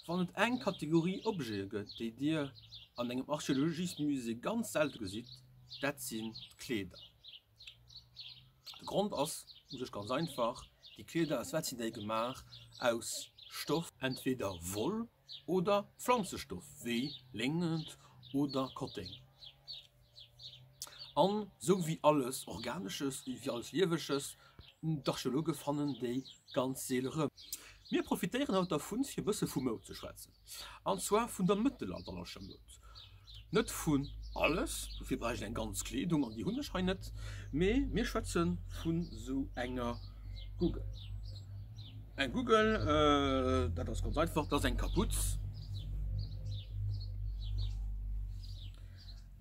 Wann et eng Kategorie Objete gëtt, déi Dir an engem Archeologiesmusée ganz selte gesitt, dat sinn d'Kleeder. De Grond ass u sech ganz einfach, Déi Kleeder, aus wat sinn déi gemaach? Aus Stoff, entweder Woll oder Pflanzestoff wéi Léngent oder Kotteng. An sou wéi alles Organesches, wéi alles Liewesches, hunn d'Archeologe fannen déi ganz seele rëm. Mir profitéieren haut dervun, fir e bësse vu Moud ze schwätzen, an zwar vun der mëttelalterlecher Moud. Net vun alles, dofir bräicht ech eng ganz Kleedung, an déi hunn ech hei net, mee mir schwätze vun esou enger Guggel. Eng Guggel, dat ass ganz einfach, dat ass eng Kaputz.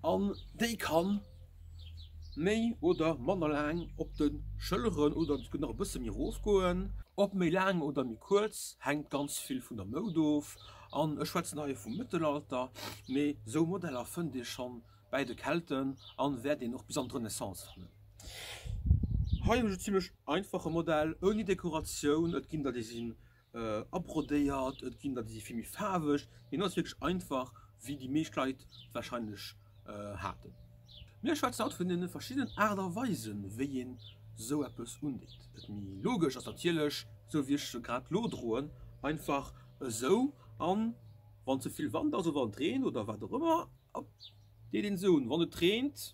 An déi kann méi oder manner laang op de Schëlleren oder se kënnt nach e bësse méi erof goen. Ob méi laang oder méi kuerz, hänkt ganz vill vun der Moud of. An ech schwätzen hei vum Mëttelalter, mee sou Modeller fënnt ee scho bäi de Kelten a wäert een och bis an d'Renaissance fannen. Hei hunn ech e zimlech einfache Modell ouni Dekoratioun. Et ginn der, déi si abrodéiert, et ginn der déi si vill méi faarweg, hien ass wierklech einfach wéi déi meescht Leit warscheinlech haten. Mir schwätzen haut vun den verschiddenen Aart a Weisen wéi een esou eppes undeet. Dat méi logesch ass natierlech esou wéi ech se grad lo droen, einfach esou an wann ze vill Wand ass oder wann et reent oder wat och ëmmer deet een se un. Wann et reent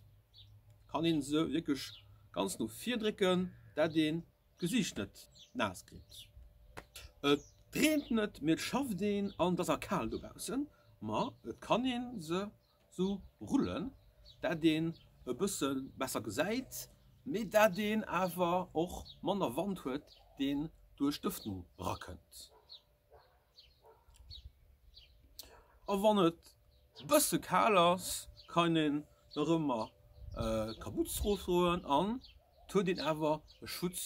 kann een se wierklech ganz no vir drécken dat een Gesicht net naass kritt. Et reent net, mee et schafft een an et ass a kal dobaussen. Ma et kann ee se sou rullen, dat een e bësse besser gesäit, mee dat een awer och manner Wand huet, deen duerch d'Ëffnung rakënnt. A wann et bësse kal ass, kann een nach ëmmer Kapuze drop droen an et huet een awer e Schutz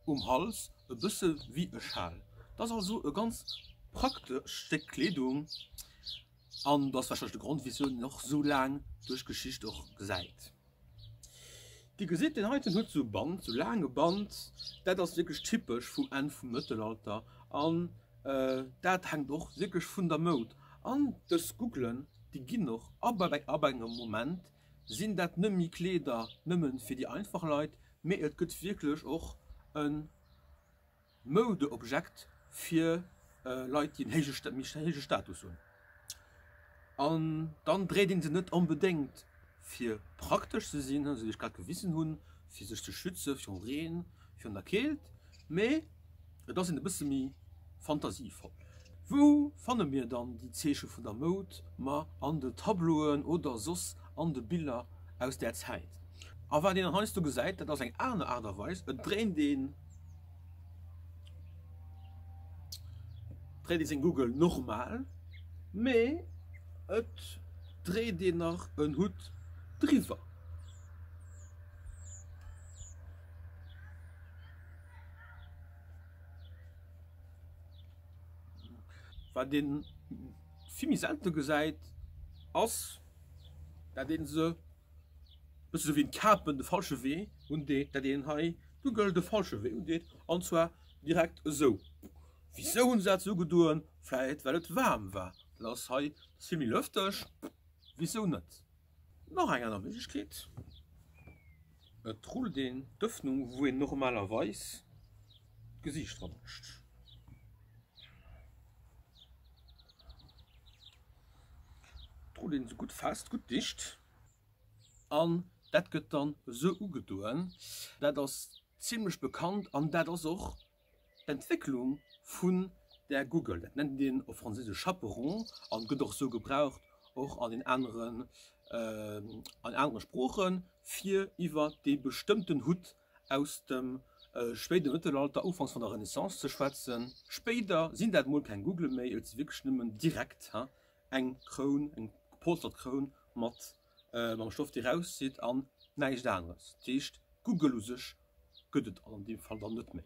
um Hals, e bësse wéi e Schal. Et ass also e ganz praktescht Stéck Kleedung an dat ass warscheinlech de Grond wisou een och esou laang duerch d'Geschicht och gesäit. Dir gesitt deen heiten huet sou Band, sou laange Band, dat ass wierklech typesch vum Enn vum Mëttelalter an dat hänkt och wierklech vun der Moud. An dës Gouglen, déi ginn och ab ab engem Moment sinn dat net méi Kleeder nëmmen fir déi einfach Leit, mee et gëtt wierklech och e Moudeobjekt fir Leit déi en héije Status hunn. An dann dréit een se net onbedéngt fir praktesch ze sinn, wéi ech grad gewisen hunn, fir sech ze schütze virum Reen, virun der Keelt, mee et ass een e bësse méi fantasievoll. Wou fanne mir dann déi Zeeche vun der Moud? Ma an den Tableauen oder soss an de Biller aus där Zäit. A wat een dann heiansdo gesäit, dat ass eng aner Aart a Weis, et dréint een. Dréit ee seng Goggel normal, mee et dréit een nach en Hutt driwwer. Wat ee vill méi selte gesäit ass dat ee se Bësse sou wéi d'Kapen de falsche Wee undeet, dat een hei Google de falsche Wee undeet, an zwar direkt esou. Wisou hunn se dat esou gedoen? Vläit well et waarm war. Dat ass hei vill méi lëfteg, wisou net? Nach eng aner Méiglechkeet, et rullt een d'Ëffnung wou een normalerweis d'Gesiicht dra bëlscht. Drot een esou gutt fest, gutt dicht an dat gëtt dann esou ugedoen. Dat ass zimlech bekannt an dat ass och d'Entwécklung vun der Guggel. Dat nennt een op Franséisesch Chaperon an gëtt och esou gebraucht, och an den aneren, an anere Sproochen, fir iwwer dee bestëmmten Hutt aus dem spéide Mëttelalter, ufanks vun der Renaissance ze schwätzen. Spéider sinn dat mol keng Gougele méi, et si wierklech nëmmen direkt eng Kroun, eng gepolstert Kroun mat mam Stoff déi rauszitt an näischt aneres. Dat heescht, d'Gougel u sech gëtt et an deem Fall dann net méi,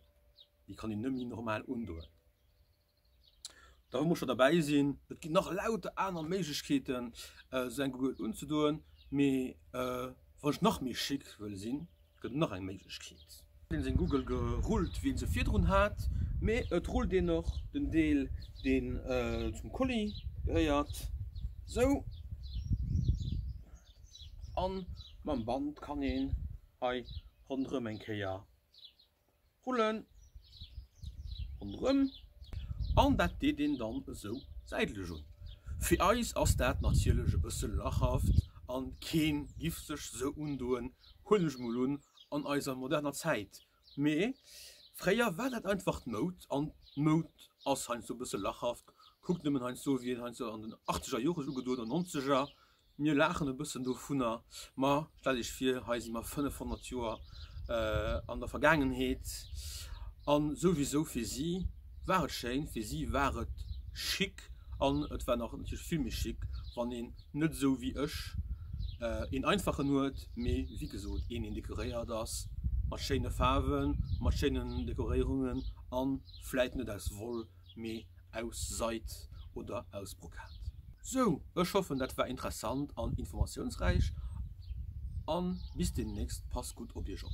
déi kann een net méi normal undoen. Da muss scho derbäi sinn. Et ginn nach lauter aner Méiglechkeeten, esou eng Gurgel unzedoen, mee wann ech nach méi chic wëll sinn, gëtt et nach eng Méiglechkeet. Een seng Gurgel gerullt, wéi een se virdrun hat, mee et rullt een och den Deel, deen zum Kolli gehéiert, esou. A mam Band kann een hei ronderëm eng Kéier Rullen ronderëm an dat deet een dann esou säitlech un. Fir eis ass dat natierlech e bësse lachhaft a kee giff sech esou undoen, huelen ech mol un, an eiser moderner Zäit. Mee fréier war dat einfach d'Moud an d'Moud ass heiansdo e bësse lachhaft. Kuckt nëmmen heiansdo, wéi een heiansdo an den Achteger Jore sech ugedoen huet oder Nonzeger, Mir laachen e bëssen dovunner, ma stellt Iech vir, hei si mer 500 Joer an der Vergaangenheet. A souwisou, fir si war et schéin, fir si war et chic an et war nach natierlech vill méi chic, wann een net esou wéi ech een einfachen huet, mee wéi gesot een, deen dekoréiert ass mat schéine Faarwen, mat schéinen Dekoréierungen a vläit net aus Woll. mee aus Seid oder aus Brokat. Sou, ech hoffen dat war interessant an informatiounsräich an bis demnächst, passt gutt op iech op.